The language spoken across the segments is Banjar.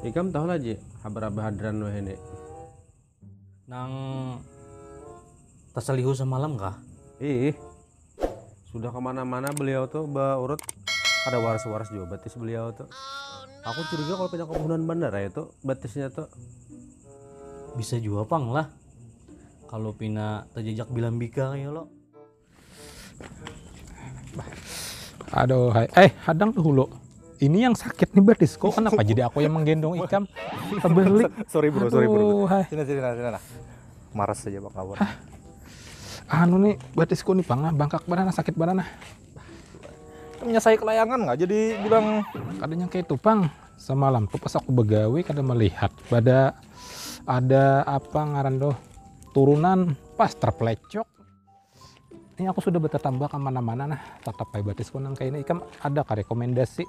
Ikam tahu lah Ji, habar Abah Hadran wahai ni. Nang tasalihu samalam kah? Iih, sudah ke mana-mana beliau tu ba urut, kada waras-waras jua batis beliau tu. Aku curiga kalo pina kebunan banar ai tu batisnya tu. Bisa jua pang lah, kalo pina tajajak bilambika kaya lo. Aduh, hai. eh hadang dulu. Ini yang sakit nih badis kok kenapa jadi aku yang menggendong ikam? Terbalik. sorry bro, Aduh, sorry bro. Hai. Sini sini sini. sini. Maras saja bang kawan. Hah? Anu nih batisku nih bang, bangkak badan sakit badan nah. Temennya saya kelayangan nggak jadi bilang kadanya kayak itu bang semalam tuh pas aku begawe kada melihat pada ada apa ngaran tuh turunan pas terplecok Ini aku sudah bertatambah ke mana-mana nah, tetap bae batis pun nang kaini. Ikam ada ka rekomendasi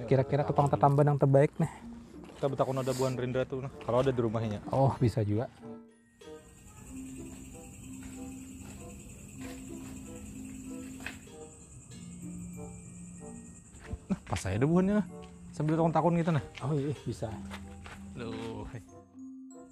kira-kira tukang tatambah nang terbaik nih? Kita betakun ada buan Rendra tuh nah, kalau ada di rumahnya. Oh, bisa juga. Nah, pas saya ada buannya nah. Sambil takun-takun gitu nah. Oh iya, bisa. Loh.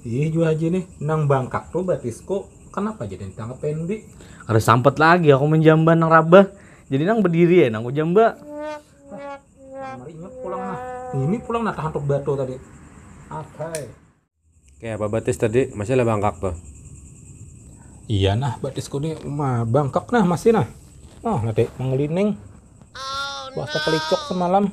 Ih jua haji nih, nang bangkak tuh batisku, kanapa jadi ditangkap Pendi? Kada sampat lagi aku menjamban nang rabah, jadi nang bediri ai nang kujamba. Nang marinya pulang nah, ngini pulang nah tahantuk batu tadi. Athai. Kaya apa batis tadi, masih lah bangkak tuh? Iya nah batisku nih, ma bangkak nah masih nah. Nah tadi mangelining, bahasa kelicok semalam.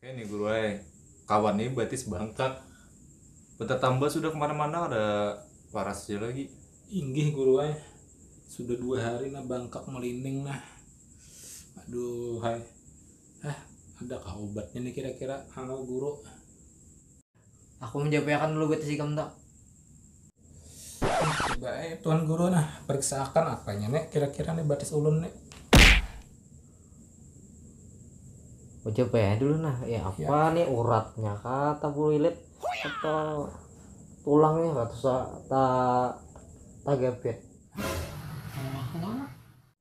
Oke nih guru eh kawan nih batis bangkak bertambah sudah kemana-mana ada parasnya lagi inggih guru eh sudah dua hari nah bangkak melinding nah aduh hai eh ada kah obatnya nih kira-kira halo guru Aku menjapai akan dulu betis ikam tu. Coba eh, Tuan Guru nah, periksa akan apanya nek kira-kira nih batis ulun nih. Coba ya dulu nah, ya apa ya. nih uratnya kata bulilit atau tulangnya kata tak tagapit.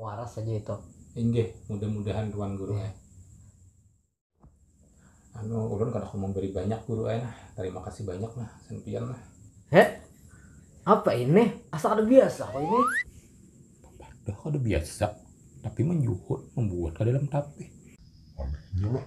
Waras haja itu. Inggih, mudah-mudahan tuan guru ai. Anu, ulun kada kawa mambari banyak guru ai nah, tarima kasih banyak nah gasan pian nah. Heh, apa ini, asa kada biasa aku ini. Bapadah kada biasa, tapi manjuhur, mambuat ka dalam tapih. Anehnya lah.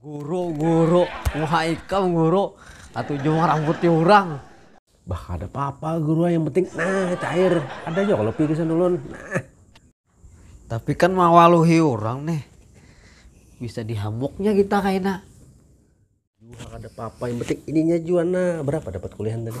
Guru guru muha ikam guru katuju marambuti urang. Bah kada papa guru ai yang penting nah cair ada jua kalo pi gasan ulun nah. Tapi kan mawaluhi urang nih bisa dihamuknya kita kaina. Juha kada papa yang penting ininya jua nah berapa dapat kuliahan tadi.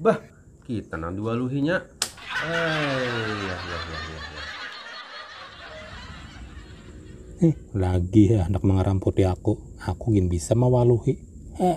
Bah, kita nang diwaluhinya. Ayah, ya, ya, ya, ya. Eh, lagi ya anak mengeramputi aku. Aku gin bisa mawaluhi. Eh.